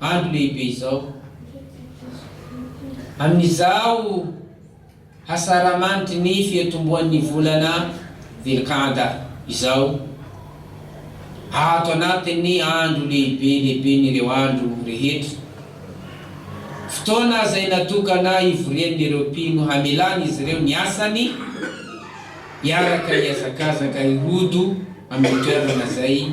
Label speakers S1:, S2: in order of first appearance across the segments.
S1: Andro lehibe izao. Amin'izao hasaramanitry ny fiatombohan'ny volana Dhul-Qa'dah izao, ato anatin'ny andro lehibe lehiben'ireo andro rehetra, fotoana izay natokana hivorian'ireo mpino hamelan'izy ireo ny asany hiaraka hihazakazaka hirodo amin'ny toerana izay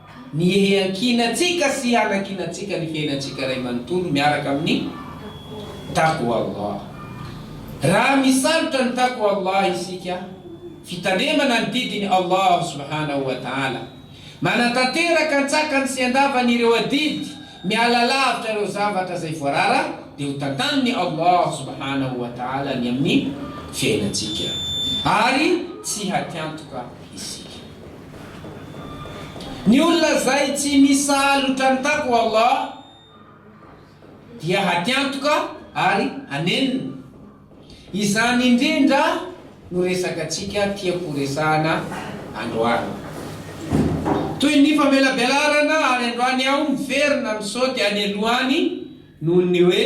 S1: Ny hiankinantsika sy hanankinantsika ny fiainantsika iray manontolo miaraka amin'ny Taqwa Allah. Raha misalotra ny Taqwa Allah isika, fitandremana ny didin'i Allah subhanahu wa ta'ala, manatanteraka an-tsakany sy an-davany ireo adidy, miala lavitra ireo zavatra izay voarara, dia ho tantanin'i Allah subhanahu wa ta'ala ny amin'ny fiainantsika ary tsy hatiantoka isika. Ny olona zay tsy misalotra ny taqwa Allah dia hatiantoka ary hanenina. Izany indrindra no resakatsika tiako horesahana androany. Toy ny famelabelarana ary androany aho miverina misaoty any alohany noho ny hoe.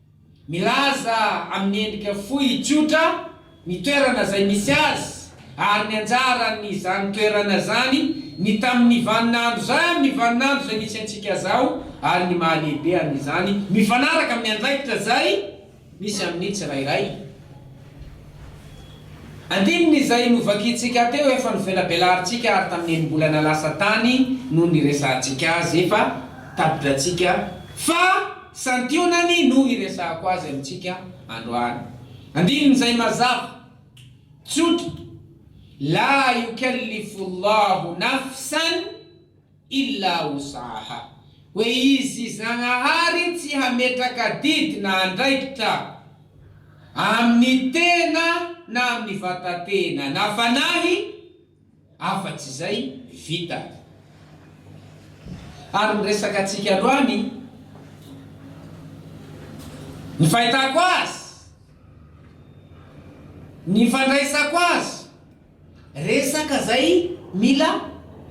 S1: Milaza amin'ny endrika fohy tsotra ny toerana izay misy azy ary ny anjaran'izany toerana izany, ny tamin'ny vaninandro izay amin'ny vaninandro izay misy antsika izao ary ny maha-lehibe an'izany mifanaraka amin'ny andraikitra izay misy amin'ny tsirairay. Andininy izay novakintsika teo efa novelabelarintsika ary tamin'ny enim-bolana lasa tany no niresahantsika azy efa tapitrantsika fa. Santionany no hiresahako azy amintsika androany. Andinin'izay mazava, tsotra, La yukallifullahu nafsan illa wus'aha, hoe Izy Zagnahary tsy hametraka didy na andraikitra amin'ny tena na amin'ny vata-tena na fanahy, Afa-tsy izay, vita. Ary ny resaka antsika androany, ny fahitako azy, ny fandraisako azy, resaka izay mila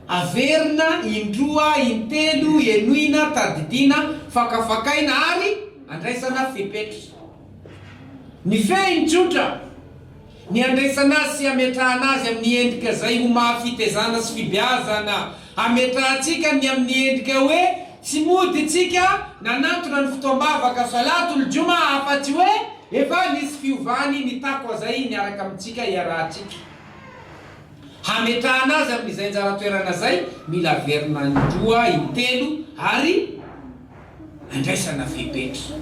S1: averina indroa, intelo, henoina, tadidiana, fakafakaina ary andraisana fepetra. Nifehiny tsotra ny handraisana azy sy hametrahana azy amin'ny endrika izay ho maha fitezana sy fibeazana. Hametrahantsika ny amin'ny endrika hoe tsy mody isika nanantona ny fotoam-bavaka Salatul Jum'a afa-tsy hoe efa nisy fiovany ny Taqwa izay niaraka amintsika iarahantsika. Hametrahana azy amin'izay anjara toerana izay mila averina in-droa, in-telo ary. andraisana fepetra.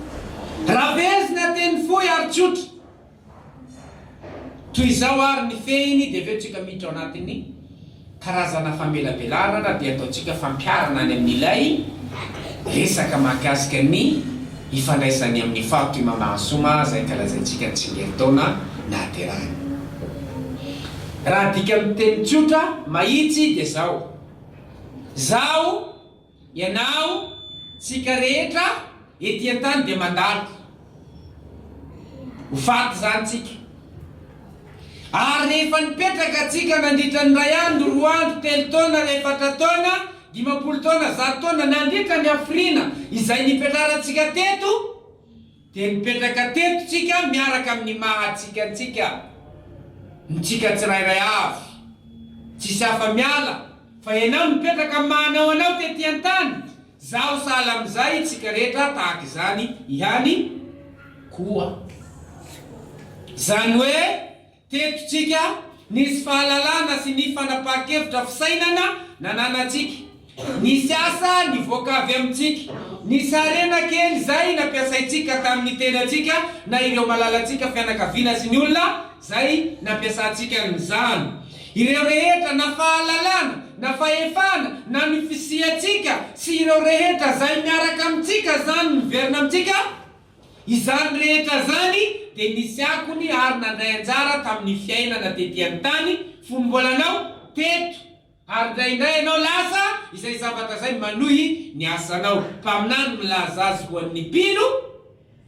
S1: Rabezina teny fohy ary tsotra. Toy izao ary ny fehiny dia avy eo tsika miditra ao anatin'ny karazana famelabelarana dia ataontsika fampiharana any amin'ilay resaka mahakasika ny ifandraisany amin'ny faritra i Mahamasoma izay ankalazaintsika ny tsingerintaona nahaterahany. Raha adika amin'ny teny tsotra, mahitsy dia izao. Izaho. Ianao, tsika rehetra ety an-tany dia mandalo. Ho faty izany tsika. Ary rehefa nipetraka tsika nandritra ny iray andro, roa andro, telo taona, efatra taona, dimampolo taona, zato taona, nandritra ny hafiriana izay nipetraran-tsika teto, Dia mipetraka teto tsika miaraka amin'ny maha tsika antsika, ny tsika tsirairay avy. Tsisy hafa miala, fa ianao no mipetraka amin'ny maha anao anao tety an-tany, zaho sahala amin'izay, tsika rehetra tahaka izany ihany koa. Izany hoe Teto-tsika, nisy fahalalana sy ny fanapahan-kevitra fisainana nananantsika. Nisy asa nivoaka avy amintsika. Nisy harena kely izay nampiasaintsika tamin'ny tenantsika na ireo malalantsika fianakaviana sy ny olona izay nampiasantsika an'izany. Ireo rehetra, na fahalalana, na fahefana, na ny fisiantsika sy ireo rehetra izay miaraka amintsika izany miverina amintsika Izany rehetra izany dia nisy akony ary nandray anjara tamin'ny fiainana tety an-tany fony mbola anao teto. Ary indraindray ianao lasa izay zavatra izay manohy ny asanao. Mpaminany milaza azy ho an'ny mpino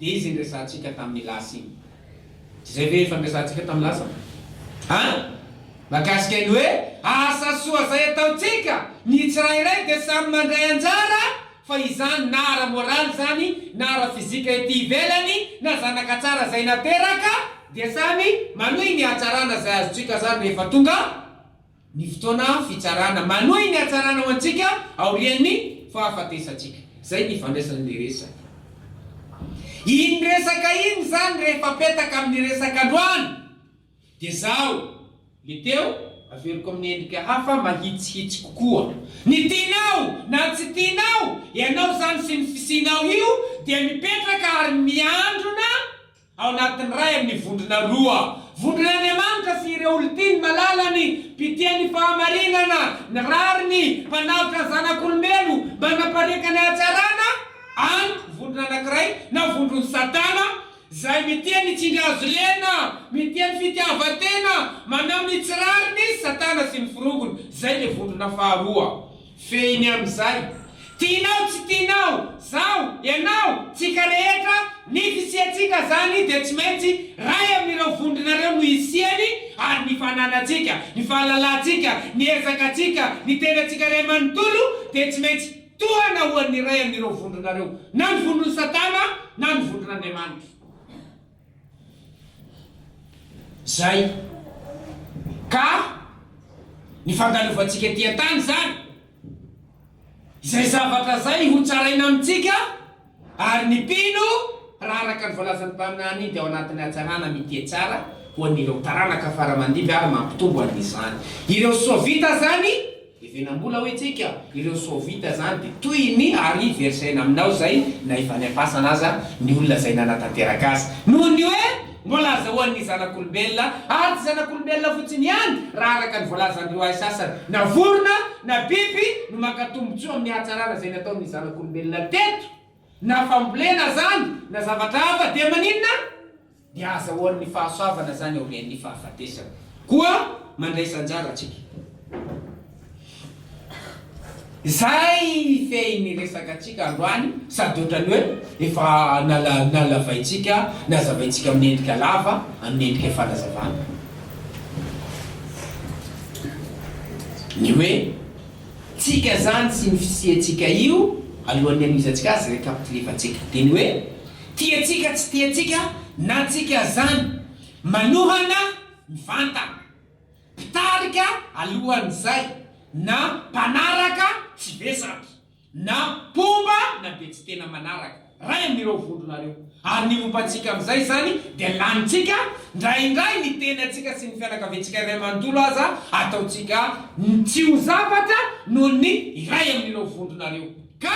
S1: dia izy niresahantsika tamin'ny lasa iny. Izay ve efa niresahantsika tamin'ny lasa ve? An? Mahakasika ny hoe asa soa izay ataontsika, ny tsirairay dia samy mandray anjara Fa izany na ara-moraly izany na ara-fizika ety ivelany na zanaka tsara izay nateraka dia samy manohy ny hatsarana izay azontsika zary rehefa tonga ny fotoana fitsarana. Manohy ny hatsarana ho antsika aorian'ny fahafatesantsika. Izay ny ifandraisan'ilay resaka. Iny resaka iny izany rehefa apetaka amin'ny resaka androany. Dia izaho, le teo, averiko amin'ny endrika hafa mahitsihitsy kokoa. Ny tianao na tsy tianao, ianao izany sy ny fisianao io dia mipetraka ary miandrona ao anatin'ny ray amin'ny vondrona roa, vondron'Andriamanitra sy ireo olon-tiany malalany, mpitia ny fahamarinana, ny rariny, mpanaotra ny zanak'olombelo mba hanapariaka ny hatsarana, any, vondrona anankiray, na vondron'i Satana, Zay miteny hitsinga azy lena miteny fitiavatena manao ny tsy rariny izy satana sy ny forongony zay le vondrona faharoa fehiny amizay tinao tsy tinao zaho ianao tsika rehetra ny fisiatsika zany dia tsy maintsy ray aminireo vondrona reo no isiany ary ny fananatsika ny fahalalatsika ny ezakatsika ny tenatsika ray manontolo dia tsy maintsy Tohana ho an'ny iray amin'ireo vondronareo, na ny vondron'i Satana na ny vondron'Andriamanitra. Izay. Ka ny fandalovantsika ety an-tany izany, izay zavatra izay hotsaraina amintsika, Ary ny mpino, raha araka ny voalazan'ny mpaminany, dia ao anatin'ny hatsarana mitia tsara ho an'ireo taranaka fara aman-dimby ary mampitombo an'izany ireo soa vita izany, Hevenam-bola hoy tsika, ireo soa vita izany dia toy ny ary versaina aminao izay na efa any am-pasana aza ny olona izay nanatanteraka azy. Noho ny hoe Voalaza ho an'ny zanak'olombelona, ady zanak'olombelona fotsiny ihany raha araka ny voalazan'ireo hay sasany, na vorona na biby no maka tombontsoa amin'ny hatsarana izay nataon'ny zanak'olombelona teto, na fambolena azany na zavatra hafa dia maninona? Dia azahoan'ny fahasoavana izany aorian'ny fahafatesana koa mandraisa anjara antsika. Izay mifehy ny resakantsika androany sady ohatran'ny hoe efa nalavaintsika, nazavaintsika amin'ny endrika lava, amin'ny endrika fanazavana. Ny hoe tsika izany sy ny fisiantsika io alohan'ny hanohizantsika azy, récapitulif-antsika, dia ny hoe tiantsika tsy tiantsika na tsika izany manohana mivantana mpitarika alohan'izay, na mpanaraka tsy be sampy, na mpomba na be tsy tena manaraka, ray amin'ireo vondronareo. Ary ny momba antsika amin'izay izany dia lanintsika, ndraindray ny tenantsika sy ny fianakaviantsika iray manontolo aza ataontsika tsy ho zavatra noho ny iray amin'ireo vondronareo. Ka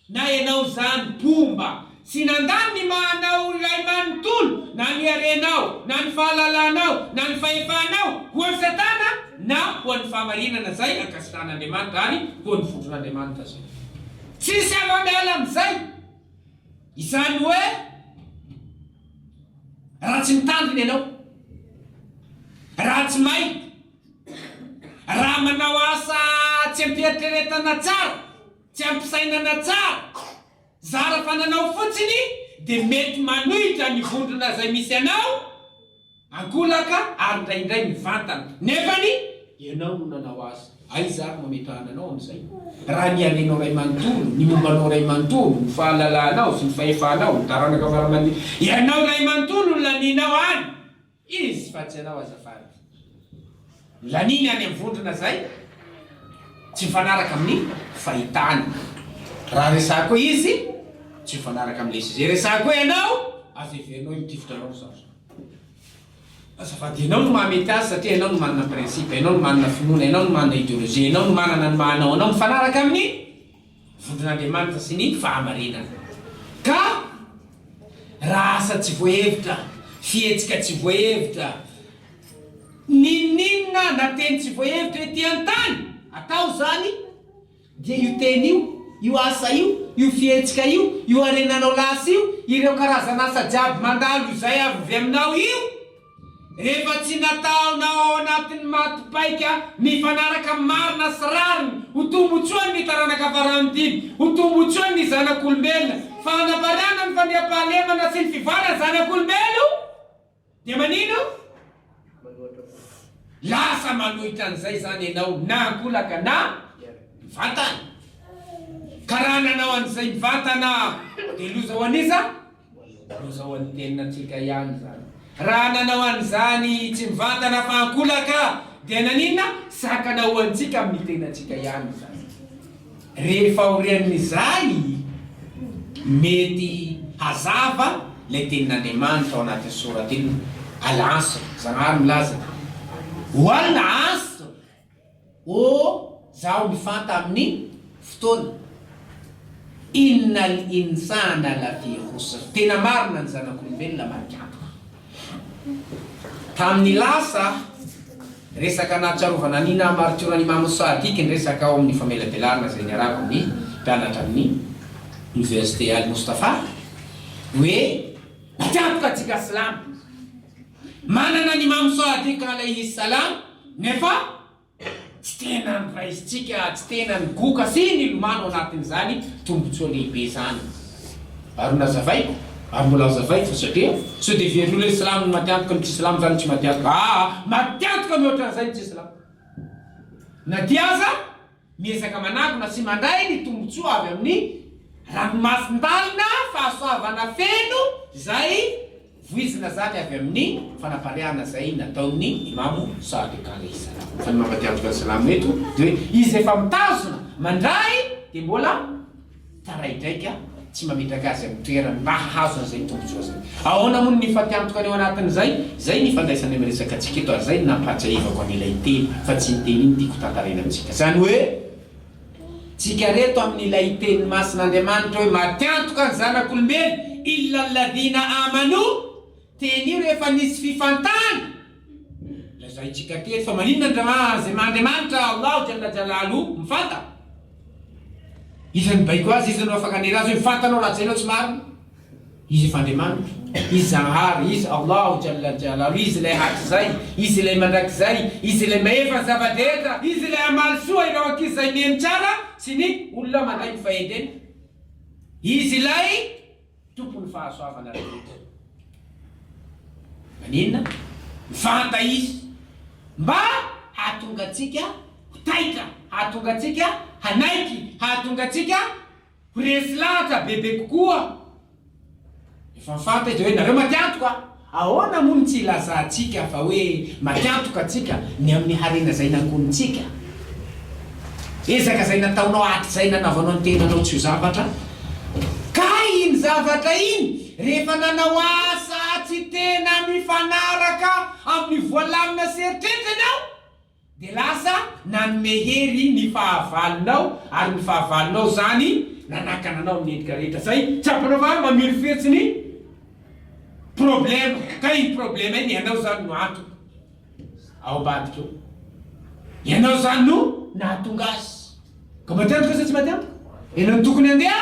S1: Na ianao zany mpomba tsy nandany ny maha anao olon'lahy manontolo na ny harenao na ny fahalalanao na ny fahefanao ho an'i satana na ho an'ny fahamarinana zay ankasitrahan'Andriamanitra ary ho an'ny vondron'Andriamanitra zay. Tsisy afa miala amizay. Izany hoe raha tsy mitandrina ianao, raha tsy may, raha manao asa tsy am-pieritreretana tsara, Tsy ampy fisainana tsara. Zara fananao fotsiny dia mety manohitra ny vondrona izay misy anao ankolaka ary indraindray mivantana. Nefany ianao no nanao azy. Aiza ary no ametrahana anao amin'izay? Raha ny harenao iray manontolo, ny momba anao iray manontolo, ny fahalalahanao sy ny fahefanao, ny taranaka fara-mandimby, ianao iray manontolo no lanianao any. Izy fa tsy anao azafady. Laniny any am vondrona zay tsy mifanaraka amin'ny fahitany raha resako izy tsy mifanaraka amle sujet resako hoe ianao aza heverinao io tifitra anao zao zao azafady ianao no maha mety azy satria ianao no manana principe ianao no manana finoana ianao no manana ideologie ianao no manana ny maha anao anao mifanaraka amin'ny Vondron'Andriamanitra sy ny fahamarinana. Ka raha asa tsy voahevitra, fihetsika tsy voahevitra, n'inon'inona na teny tsy voahevitra ety an-tany atao izany, dia io teny io, io asa io, io fihetsika io, io harenanao lasa io, ireo karazan'asa jiaby mandalo izay avy aminao io, Rehefa tsy nataonao ao anatin'ny maty paika mifanaraka marina sy rariny ho tombotsoan' ny taranaka farany dimy, ho tombotsoan' ny zanak' olombelona, fanafarana ny fandriampahalemana sy ny fivoaran' zanak' olombelo, dia manino? Lasa manohitra an' izay izany ianao na an-kolaka na mivantana. Ka raha nanao an' izay mivantana dia loza ho an' iza? Ho izao ny teninantsika ihany izany. Raha nanao an'izany tsy mivantana fa ankolaka dia naninona? Sakana ho antsika amin'ny tenantsika ihany izany. Rehefa aorian'izay, mety hazava ilay tenin'Andriamanitra ao anatin'ny soratra inona? Al-Asr, Zanahary milaza, Ho al-Asr! Oh zaho mifanta aminy fotoana innal insana lafi khusr tena marina ny zanak'olombelona marika antoka tamin'ny lasa resaka nahatsiarovana ny naha maritiora an'imam sadiq ny resaka ao amin'ny famelabelarana izay niarahako ny mpianatra amin'ny université al mustafa hoe matiantoka antsika silamo Manana ny Imam Sadiq Alayhi Salam nefa tsy tena noraisintsika, tsy tena nigoka sy nilomano anatin'izany tombotsoa lehibe izany. Ary nazavaiko, ary mbola hazavaiko, satria sao dia very olona silamo ny matiantoka ny tsy silamo izany tsy matiantoka, aa matiantoka mihoatra an'izay ny tsy silamo na dia aza, Miezaka manangona sy mandray ny tombontsoa avy amin'ny ranomasin-dalina fahasoavana feno izay voizina zany avy amin'ny fanapariahana izay nataon'ny Imamo Sadiq alaihi salam. Fa ny mampatiaviko an'i Salamo eto dia hoe izy efa mitazona mandray dia mbola. taraidraika tsy mametraka azy amin'ny toerany mba hahazo an'izay tombontsoa izay. Ahoana moa no nifatiantoka ny ao anatin'izay? Izay ny ifandraisany amin'ny resakantsika eto ary izay no nampahatsiahivako an'ilay teny fa tsy ny teny iny tiako tantaraina amintsika. Izany hoe, tsika reto amin'ilay teny masin'Andriamanitra hoe matiantoka ny zanak'olombelona, Illa alladhina amanu, Teny io rehefa nisy fifantahana. Lazaintsika teto fa maninona ny ra izay maha Andriamanitra Allahu Jalla Jalalu mifanta? Iza no baiko azy? Iza no afaka hanera azy hoe mifanta anao raha hajainao tsy marina? Izy efa Andriamanitra. Izy Zanahary. Izy Allahu Jalla Jalalu. Izy Ilay hatrizay. Izy Ilay mandrakizay. Izy Ilay Mahefa ny zava-drehetra. Izy Ilay hamaly soa ireo ankizy izay mihaino tsara sy ny olona mandray ny fahendrena. Izy Ilay. Tompon'ny fahasoavana rehetra. Maninona? Mivanta Izy mba hahatonga antsika ho taitra, hahatonga antsika hanaiky, hahatonga antsika ho resy lahatra bebe kokoa. Efa fanta Izy hoe, Nareo maty antoka. Ahoana moa no tsy hilazantsika fa hoe mankatoka antsika ny amin'ny harena izay nangonintsika? Ezaka izay nataonao hatrizay nanaovanao ny tenanao tsy ho zavatra? Kay iny zavatra iny rehefa nanao asa tsy tena mifanaraka amin'ny voalamina sy eritreritra ianao! Dia lasa nanome hery ny fahavalonao, ary ny fahavalonao izany nanakana anao amin'ny endrika rehetra izay tsapanao fa mamirofirotso ny problema, ka iny problema iny ianao izany no antony ao ambadika ao, ianao izany no nahatonga azy, ka mety antoka sa tsy mety antoka? Ianao no tokony handeha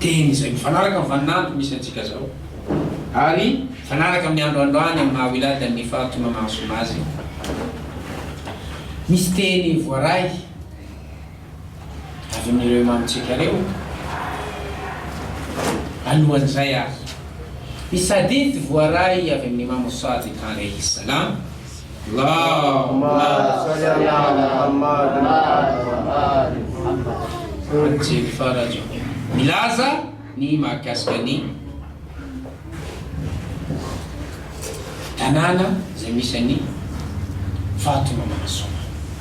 S1: Teny izay mifanaraka amin'ny vaninandro misy antsika izao ary mifanaraka amin'ny andro androany amin'ny maha Wilada ny fahatonga mahasoa azy. Misy teny voaray avy amin'ireo imamontsika ireo alohan'izay ary. Misy hadith voaray avy amin'i Imam Sadiq alaihi salam. Milaza ny mahakasika ny tanàna izay misy an'i Vatomamana Soa.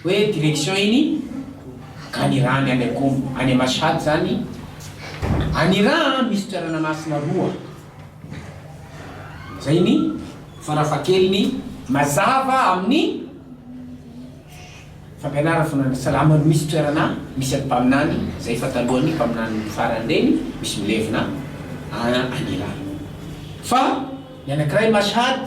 S1: Hoe direction iny Aniraha ny any Akomo any Mashhad zany Aniraha an misy toerana masina roa zay ny farafahakeliny mazava amin'ny fampianarana fona ny salama no misy toerana misy an'i mpaminany zay efa talohan'ny mpaminany farany reny misy milevina an Aniraha fa ny anakiray Mashhad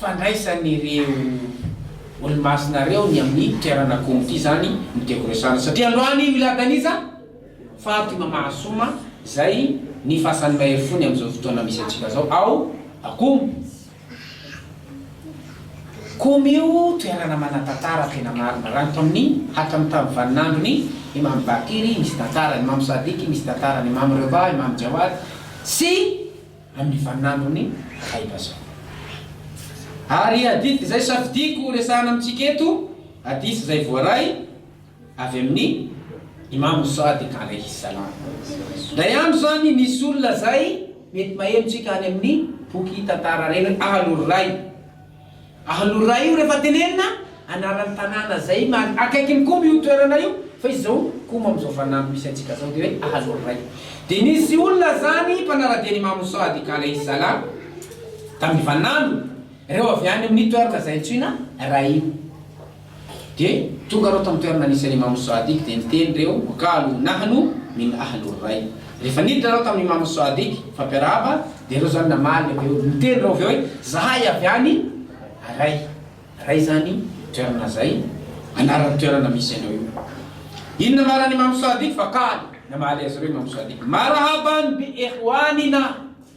S1: fandraisan'ireo olomasina ireo ny amin'ny toerana comity izany no tiako resahana satria androany i Milad Aniza faty mamahasoma izay ny fasan'ny mahery fony amin'izao fotoana misy antsika izao ao Akomo. Komy io toerana manan-tantara tena marina raha ny tao amin'ny hatramin'ny tamin'ny vaninandron'i Imam Bakir misy tantara, Imam Sadiq misy tantara, Imam Reda, Imam Jawad sy. amin'ny vaninandron'ny Aim-bazaha. Ary hadith izay safidiako ho resahana amintsika eto, hadith izay voaray avy amin'i Imam As-Sadiq alaihi s-salam. Indray andro izany nisy olona izay, mety maheno tsika any amin'ny boky tantara ireny, Ahlul Ray, Ahalora io refa tenenina anarany tanàna zay man akaikiny komby io toerana io fa izy zao koma amzao fanamby misy antsika zao de hoe ahaloray de nisy olona zany mpanaradia ny Imamo Sadiq Alaihi Salam tam ivanamby reo avy any aminy toerana zay antsoina Raïm Dia tonga ireo tamin'ny toerana nisy an'i Imam Sadiq dia niteny ireo, wa qalu nahnu min ahlu rai. Rehefa niditra ireo tamin'i Imam Sadiq, mifampiarahaba, dia ireo izany namaly avy eo, niteny ireo avy eo hoe, Izahay avy any Rai. Rai izany toerana izay anaran'ny toerana misy anao io. Inona marina an'i Imam Sadiq? Fa qalu, namaly azy ireo Imam Sadiq, Marhaban bi ikhwanina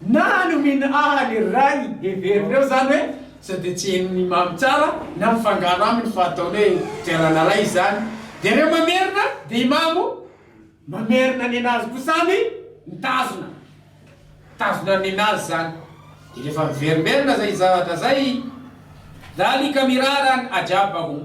S1: Na nomena ahy ny ray heverin'ireo izany hoe sao dia tsy henon'ny mamy tsara na mifangaro aminy fa ataony hoe fitiarana ray izany dia ireo mamerina dia i mamo mamerina nenazy koa samy mitazona mitazona nenazy izany dia rehefa miverimberina izay zavatra izay dhalika mirara an ajab hum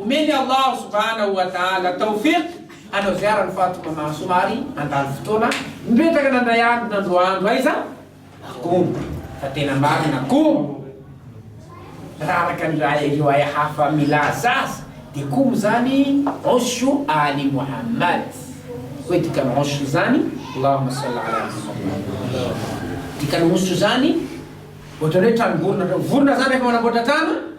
S1: Omeny Allah subhanahu wa ta'ala tawfiq hanao ziara an'i Fatima maha somary handany fotoana mipetraka nandray andro nandro andro aiza akoho fa tena marina akoho raha araka ny ireo aya hafa milaza azy dia koho izany oshu ali Muhammad hoe dikany oshu izany Allahumma salli ala Muhammad dikany oshu izany ohatran'ny hoe tranom-borona, vorona izany rehefa manamboatra trano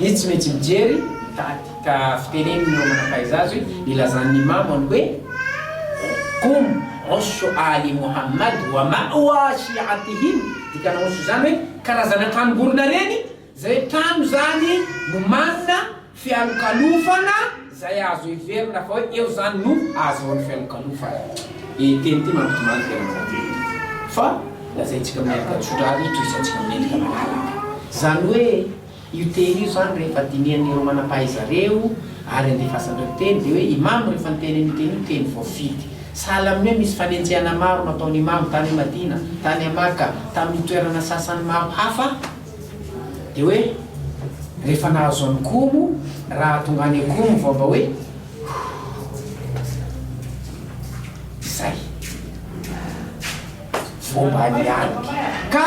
S1: Izy tsy maintsy mijery ny tady ka fitenenin'ireo manam-pahaiza azy ilazany ny mamo any hoe, Qum ushu aali Muhammad wa ma wa shi'atihim, dikana ushu izany hoe karazana tranom-borona ireny, izay trano izany no manana fialokalofana izay azo heverina fa hoe eo izany no ahazoany fialokalofana. Ity teny ity mampitomany tena manan-danja fa lazaintsika amin'ny endrika tsotra ary tohisantsika amin'ny endrika malalaka. Izany hoe. Io teny io izany rehefa dinihan'ireo manam-pahaizareo ary andefasan'ireo teny dia hoe Imam rehefa niteny an'io teny io teny voafidy. Sahala amin'ny hoe misy fanenjehana maro nataon'i Imam tany Madina, tany à Maka, tamin'ny toerana sasany maro hafa dia hoe rehefa nahazo an'i Qum raha tonga any Qum vao mba hoe izay vao mba nianika ka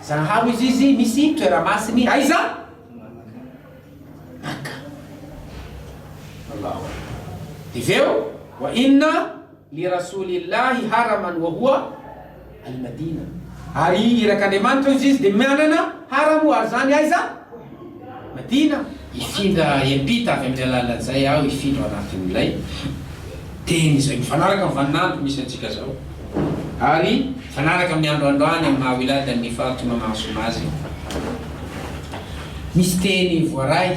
S1: Zahaho izy izy misy toeramasiny aiza Makka Allahu Akbar Dia avy eo wa inna li Rasulillahi haraman wa huwa Al-Madina Ary irak'Andriamanitra hoy izy izy dia manana haramo ary izany aiza? Madina! Hifindra hiampita avy amin'izay lalina izay aho, hifindra ao anatin'ilay Teny izay mifanaraka amin'ny vaninandro misy antsika izao, ary mifanaraka amin'ny andro androany amin'ny maha Wilada ny fahatoana mahasoa azy. Misy Teny voaray.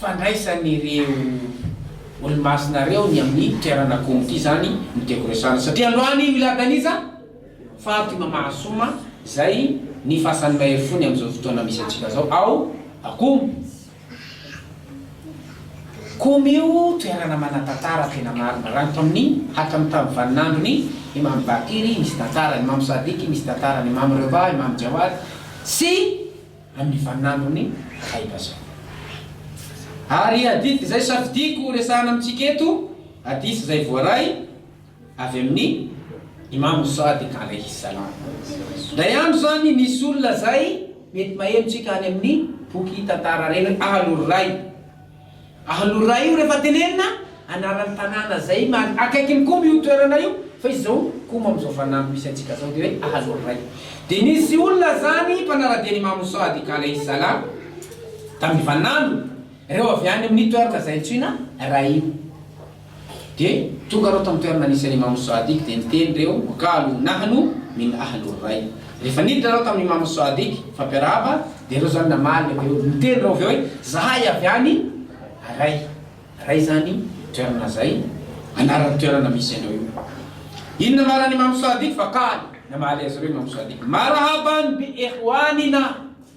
S1: fandraisan'ireo olomasina ireo ny amin'ny toerana komity izany no tiako resahana satria androany i Milad Aniza faty mamasoma izay ny fasan'ny mahery fony amin'izao fotoana misy antsika izao ao Akomo. Komo io toerana manan-tantara tena marina raha ny tao amin'ny hatramin'ny tamin'ny vaninandron'i Imam Bakir misy tantara, Imam Sadiq misy tantara, Imam Reda, Imam Jawad sy. amin'ny vaninandron'ny Aim-bazaha. Ary adidiko izay safidiako ho resahana amintsika eto, hadith izay voaray avy amin'ny Imam Sadiq alaihi s-salam. Indray andro izany nisy olona izay mety maheno tsika any amin'ny boky tantara ireny, Ahlul Rai, Alora io refa tenenina anarany tanàna zay mari akaikiny komby io toerana io fa izy zao komo amzao fanamby misy antsika zao de hoe Aloraiy de nisy olona zany mpanaradia ny Imamo Soady ka Alayhi Salam tam ivanandro reo avy any aminy toerana zay antsoina Raïm Dia tonga ireo tamin'ny toerana nisy an'i Imam Sadiq dia niteny ireo, wa qalu nahnu min ahlur ray. Rehefa niditra ireo tamin'i Imam Sadiq, fampiarahaba, dia ireo izany namaly avy eo, niteny ireo avy eo hoe, Zahay avy any Ray. Ray izany toerana izay anaran'ny toerana misy anao io. Inona no anaran'i Imam Sadiq? Fa qalu, namaly azy ireo Imam Sadiq, Marhaban bi ikhwanina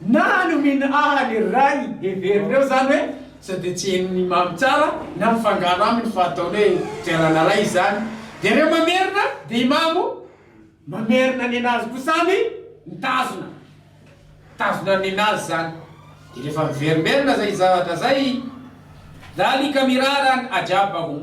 S1: Na ny omena ahy ny ray heverina eo izany hoe sao dia tsy henon'ny mamy tsara na mifangaro aminy fa ataony hoe fiarana ray izany dia ireo mamerina dia i mamo mamerina nenazy koa samy mitazona mitazona ny nenazy izany dia rehefa miverimerina izay zavatra izay dhalika mirara an ajab hum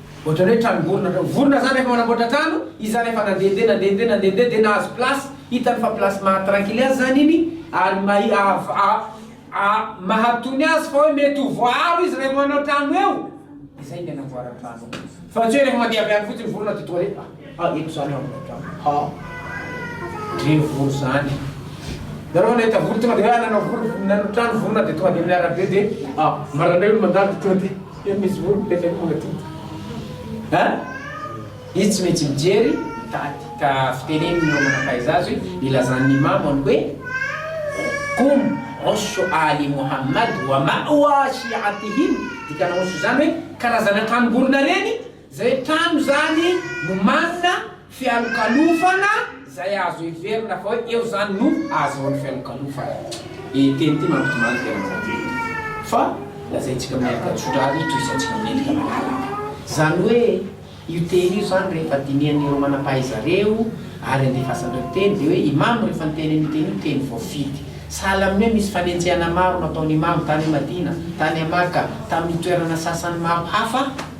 S1: Ohatran'ny hoe trano vorona ohatran'ny vorona zany rehefa manamboatra trano, izy zany rehefa nandehandeha nandehandeha nandehandeha dia nahazo place, hitany fa place maha tranquille azy zany iny ary mahi- av- a- a- mahatony azy fa hoe mety ho voaaro izy rehefa manao trano eo, dia zay dia namboarany trano eo, fa tsy hoe rehefa mandeha avy any fotsiny vorona dia tonga dia. Ha eto zany an ha dre voro zany nareo nahita voro tonga de hoe nanao voro nanao trano vorona de tonga de amin'ny arabe de ha marandraigny no mandalo de tonga de eo misy voro mipetraka eo magnodidy ha izy tsy maintsy mijery mitady ka fiteneniny ireo manam-pahaiza azy ilazan'ny imamany hoe kum osho ali muhammad wa ma'wa shi'atihim dikana osho zany hoe karazana tranom-borona reny Izay trano izany no manana fialokalofana izay azo heverina fa hoe eo izany no ahazoany fialokalofana. Ity teny ity mampitomany tena manadio tokoa fa lazaintsika amin'ny ankantsotra azy toy isantsika mendrika malalaka. Izany hoe io teny io izany rehefa dinihan'ireo manam-pahaizareo ary andefasan'ireo mpiteny dia hoe Imamo rehefa niteny an'io teny io teny voafidy. Sahala amin'ny hoe misy fanenjehana maro nataon'Imamo tany Madina, tany Maka, tamin'ny toerana sasany maro hafa.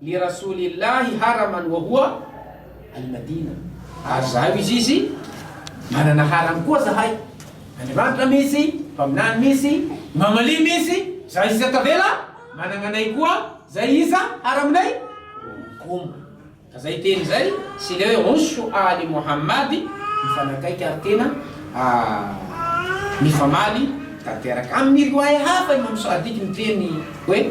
S1: Li Rasulillahi haraman wa huwa al-Madina, ary zahay ho izy izy manana haram koa zahay, Andriamanitra misy, Mpaminany misy, Imam Ali misy, zahay sisa tavela managna anay koa zay iza haraminay Hum, ka zay teny zay sy le hoe Ushu Ali Mohammadi mifanakaiky ary tena mifamaly tanteraka. Amin' ny riwaya hafa Imam Sadiq miteny hoe.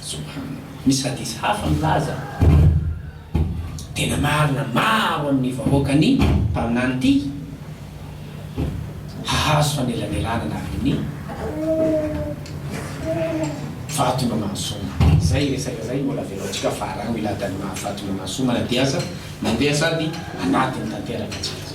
S1: Subhanallah. Misy hadith hafa milaza, Tena marina, maro amin'ny vahoakan'ny mpaminany ty hahazo fanelanelanana avy amin'ny Fatima Masuma. Izay resaka izay mbola avelantsika fa araho ilay Dalima Fatima Masuma na dia aza mandeha sady anaty ny tanteraka aza.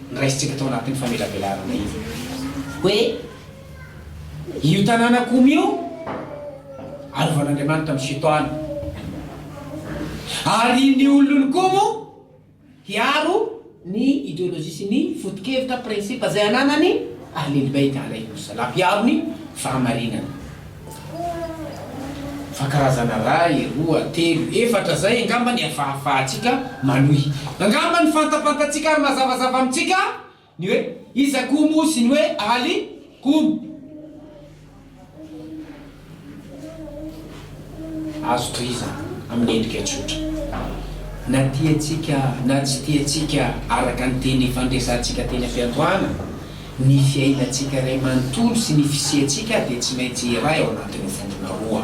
S1: noraisintsika tao anatin'ny famelabelarana iny hoe io tanàna komy io arovan'Andriamanitra amin'ny fito andro, ary ny olon'ny komo hiaro ny ideolojia sy ny foto-kevitra, principe, izay ananany, Ahlil Beit Alaihimus Salam, hiaro ny fahamarinana. Fa karazana ray, roa, telo, efatra zay angamba ny afahafahantsika manohy. Angamba ny fantapantatsika ary mazavazava amintsika ny hoe iza koa moa sy ny hoe aly koa. Azo tohizana amin'ny endrika tsotra. Na tiantsika na tsy tiantsika araka ny teny fandresantsika teny am-piandohana, Ny fiainantsika iray manontolo sy ny fisiantsika dia tsy maintsy iray ao anatin'ny vondrona roa.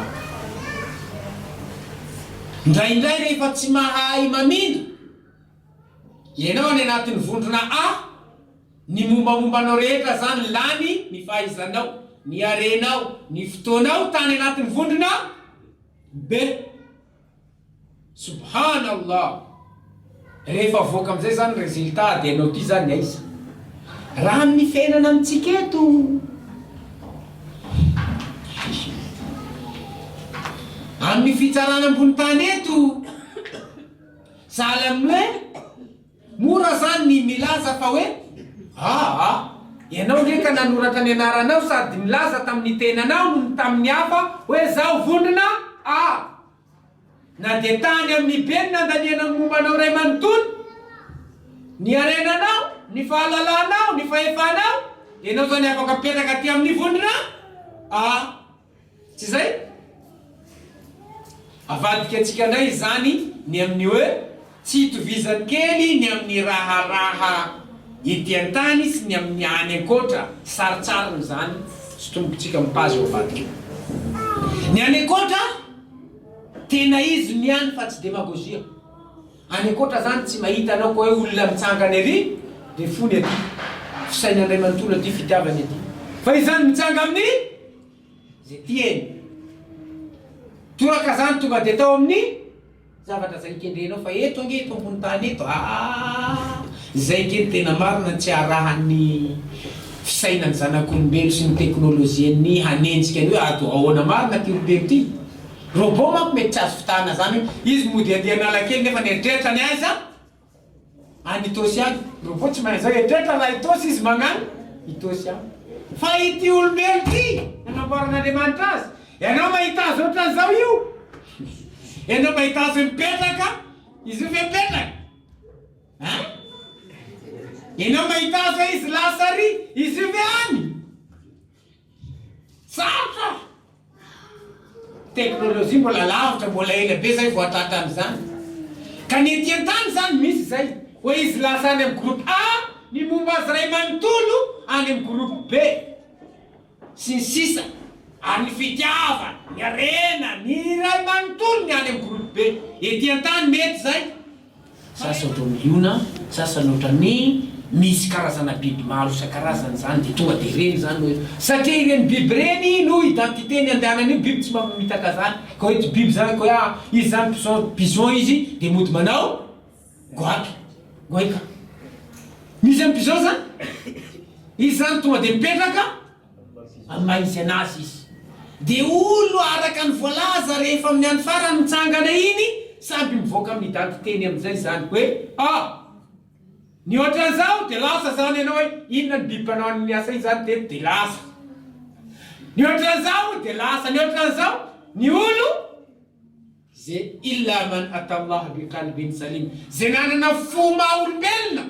S1: Indraindray rehefa tsy mahay mamindra ianao any anatin'ny vondrona A, ny mombamomba anao rehetra izany lany, ny fahaizanao, ny harenao, ny fotoanao tany anatin'ny vondrona B. Subhan Allah! Rehefa avoaka amin'izay izany résultat dia ianao ity izany aiza? Raha amin'ny fiainana amintsika eto, amin'ny fitsarana ambony tany eto, sahala amin'ny hoe. Mora zany ny milaza fa hoe aa ianao nge ka nanoratra ny anaranao sady nilaza tamin'ny tenanao noho ny tamin'ny hafa hoe zaho vondrona aa. Na dia tany amin'ny be ny nandanianao ny momba anao iray manontolo, ny harenanao, ny fahalalanao, ny fahefanao, ianao zany afaka mipetraka aty amin'ny vondrona aa. Tsy izay? Avadika antsika indray izany ny amin'ny hoe tsy itovizan'ny kely ny amin'ny raharaha ety an-tany sy ny amin'ny any ankoatra. Sarintsariny izany tsy tombotsika mipazo eo ambadika. Ny any ankoatra, tena izy no ihany fa tsy demagozia. Any ankoatra zany tsy mahita anao ko hoe olona mitsangana ery de fony aty. Fisaina ndray manontolo aty fitiavana ety. Fa izany mitsanga amin'ny ze tiany. Toraka zany tonga de atao amin'ny zavatra zay kendrenao fa eto ange eto ambony tany eto aah zay nge no tena marina tsy arahan'ny fisainan'ny zanak'olombelo sy ny teknolojian'ny hanenjika ny hoe ato ahoana marina ty ry telo ty Robot manko mety tsy azo fitahana zany hoe izy mody andeha analakely nefa ny eritreritra any aiza? Any Itaosy any. Ny robot tsy mahay an'izao, eritreritra raha Itaosy izy magnany Itaosy any. Fa ity olombelo ty nanamboaran'Andriamanitra azy, ianao mahita azy ohatran'izao io? Ianao mahita azy mipetraka, izy io ve mipetraka? Hein? Ianao mahita azy hoe izy lahatsary, izy io ve any? Sarotra! Teknolojia mbola lavitra, mbola ela be zay vao hatratra an'izany. Ka ny ety an-tany zany misy zay, hoe izy lasa any amin'ny groupe A, ny momba azy iray manontolo any amin'ny groupe B, sy ny sisa Ary ny fitiavana, ny harena, ny iray manontolo ny any amin'ny groupe B. Ety an-tany mety zay. Sasany ohatry ny liona, sasany ohatry ny, misy karazana biby maro isan-karazany izany dia tonga dia ireny izany no, satria ireny biby ireny no identité ny andehanan'io biby tsy mba mamitaka izany ka hoe ity biby izany ka hoe ah izy izany bison, bison izy dia mody manao goaika, goaika, misy an'i bison izany? Izy izany tonga dia mipetraka. Amin'ny maha izy anazy izy. Dia olo araka ny voalaza rehefa amin'ny andro farany mitsangana iny samby mivoaka amin'ny daty teny amin'izay izany hoe a. Ny ohatran'izao dia lasa izany ianao hoe inona ny biby mpanao an'iny asa iny izany teto dia lasa. Ny ohatran'izao dia lasa. Ny ohatran'izao ny olo. ze illa man atallaha bi qalbin salim, ze nanana fo maha olombelona,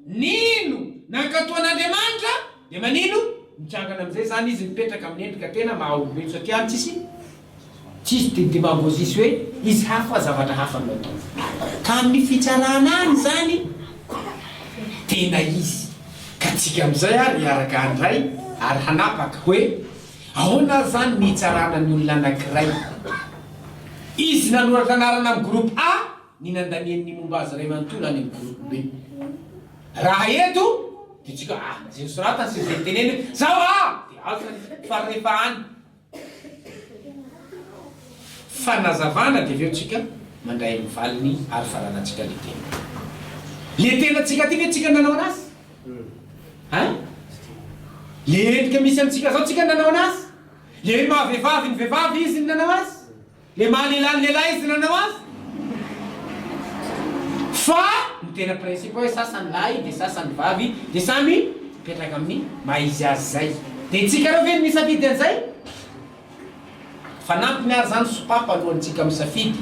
S1: nino, nankato an'Andriamanitra, dia manino? Mitrangana amin'izay izany izy mipetraka amin'ny endrika tena maha olombelo satria any tsisy tsisy de demagogie sy hoe izy hafa zavatra hafa no ataony. Ka amin'ny fitsarana any izany tena izy. Ka tsika amin'izay ary hiaraka handray ary hanapaka hoe. Ahoana ary izany no hitsarana ny olona anankiray? Izy nanoratra anarana amin'ny groupe A ny nandaniany ny momba azy iray manontolo any amin'ny groupe B. Raha eto dia tsy ka ah izay nosoratany sy izay noteneniny zao ah dia azo zany fa rehefa any fanazavana dia avy eo tsika mandray ny valiny ary faranantsika le tena le tenantsika ty ve tsika nanao anazy? Hein? Le endrika misy amintsika zao tsika nanao anazy? Le maha vevavy ny vevavy izy ny nanao azy? Le maha lehilahy ny lehilahy izy ny nanao azy? Fa ny tena principe hoe sasany lahy de sasany vavy de samy mipetraka amin'ny maha izy azy zay. De tsika reo ve no misafidy an'izay? Fanampiny ary izany, sopapa alohan'ny tsika misafidy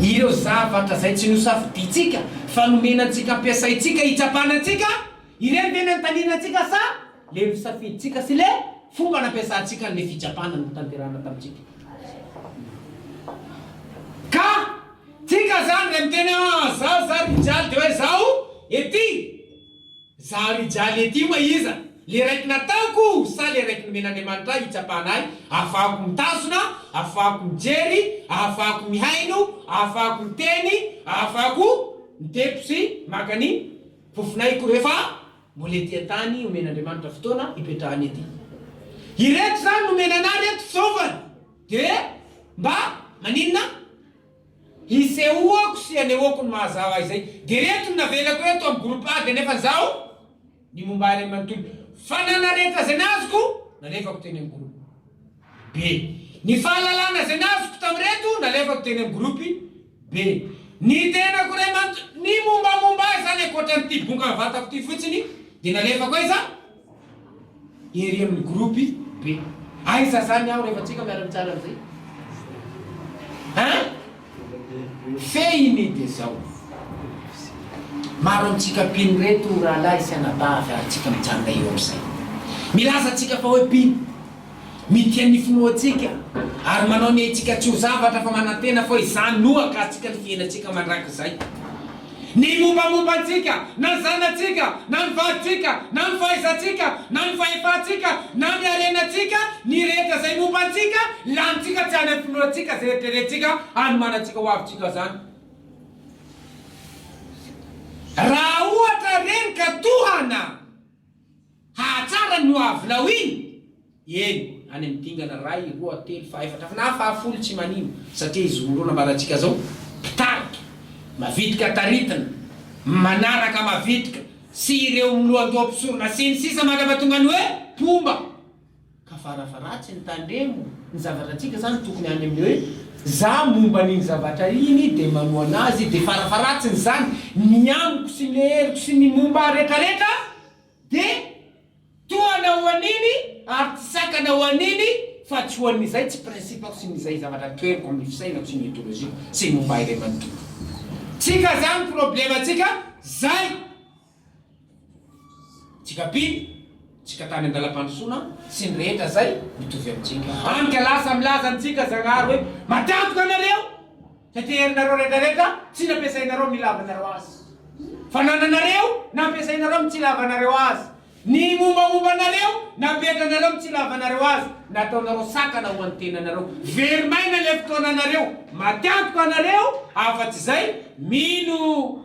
S1: ireo zavatra izay tsy nosafidiantsika fa nomena antsika ampiasaintsika hitsapana antsika, ireny ve ny anotaniana antsika sa le nosafidintsika sy le fomba nampiasantsika an'le fitsapana notanterahana tamintsika? Ka tsika izany re miteny ah zaho za ry jaly de hoe zaho ety Zaho ry Jaly ety oa iza? Le raiky nataoko o sa le raiky nomen'Andriamanitra ahy hitsapana ahy ahafahako mitazona, ahafahako mijery, ahafahako mihaino, ahafahako miteny, ahafahako mitepo sy maka ny fofon'aiko rehefa mbola ety an-tany omen'Andriamanitra fotoana hipetrahany ety? Ireto zany nomena anah reto fisaovana de mba maninona? Hisehoako sy hanehoako ny maha zaho ahy izay. Dia ireto no navelako eto amin'ny groupe ady anefa zaho ny momba ahy ray manontolo. Fananana rehetra izay nazoko nalefako teny amin'ny groupe. Be. Ny fahalalana izay nazoko tamin'ireto nalefako teny amin'ny groupe. Be. Ny tenako ray manontolo, ny mombamomba ahy izany ankoatran'ity bongan'ny vatako ity fotsiny dia nalefako aiza? Ery amin'ny groupe be. Aiza zany aho rehefa tsika miara mitsara an'izay? Hein? Fehiny de zao. Maro amintsika mpino reto rahalahy sy anabavy ary tsika mijanona eo amin'izay. Milaza tsika fa hoe mpino. Mitia ny finoantsika ary manao ny aintsika tsy ho zavatra fa manantena fa izany no hakatsika ny fiainantsika mandrakizay. Ny mombamomba antsika, na ny zanatsika, na ny vadintsika, na ny fahaizantsika, na ny fahefantsika, na ny harenantsika, ny rehetra izay momba antsika, lanintsika tsy any amin'ny finoantsika izay eritreretintsika hanomanantsika ho avintsika izany. Raha ohatra ireny ka tohana! Hahatsara ny ho avinao iny! Eny, any amin'ny dingana iray, roa, telo, fahefatra, na fahafolo tsy manino, satria izy roa nambarantsika izao, mpitarika, mavitrika taritina, manaraka, mavitrika, sy ireo milohandoha mpisorona, sy ny sisa Mandra-pahatonga ny hoe mpomba. Ka farafara tsy ny tandremo ny zavatra antsika zany tokony any amin'ny hoe za momba an'iny zavatra iny de manohana azy de farafaratsiny zany ny amiko sy ny heriko sy ny momba ahy retraretra de tohana ho an'iny ary tsy sakana ho an'iny fa tsy ho an'izay tsy principako sy ny izay zavatra toheriko amin'ny fisainako sy ny idoloziako sy ny momba ahy ray manontolo tsika zany problema tsika zay. Tsika mpino, tsika tany an-dalam-pandrosoana sy ny rehetra izay mitovy amintsika. Andika lasa milaza amintsika Zagnahary hoe, Matanjaka nareo, fa teherinareo retraretra tsy nampiasainareo amin'ny ilavanareo azy. Fanananareo nampiasainareo amin'ny tsy ilavanareo azy. Ny mombamomba anareo napetranareo amin'ny tsy ilavanareo azy. Nataonareo sakana ho an'ny tenanareo. Very maina ilay fotoananareo. Matanjaka nareo, afa-tsy izay, mino.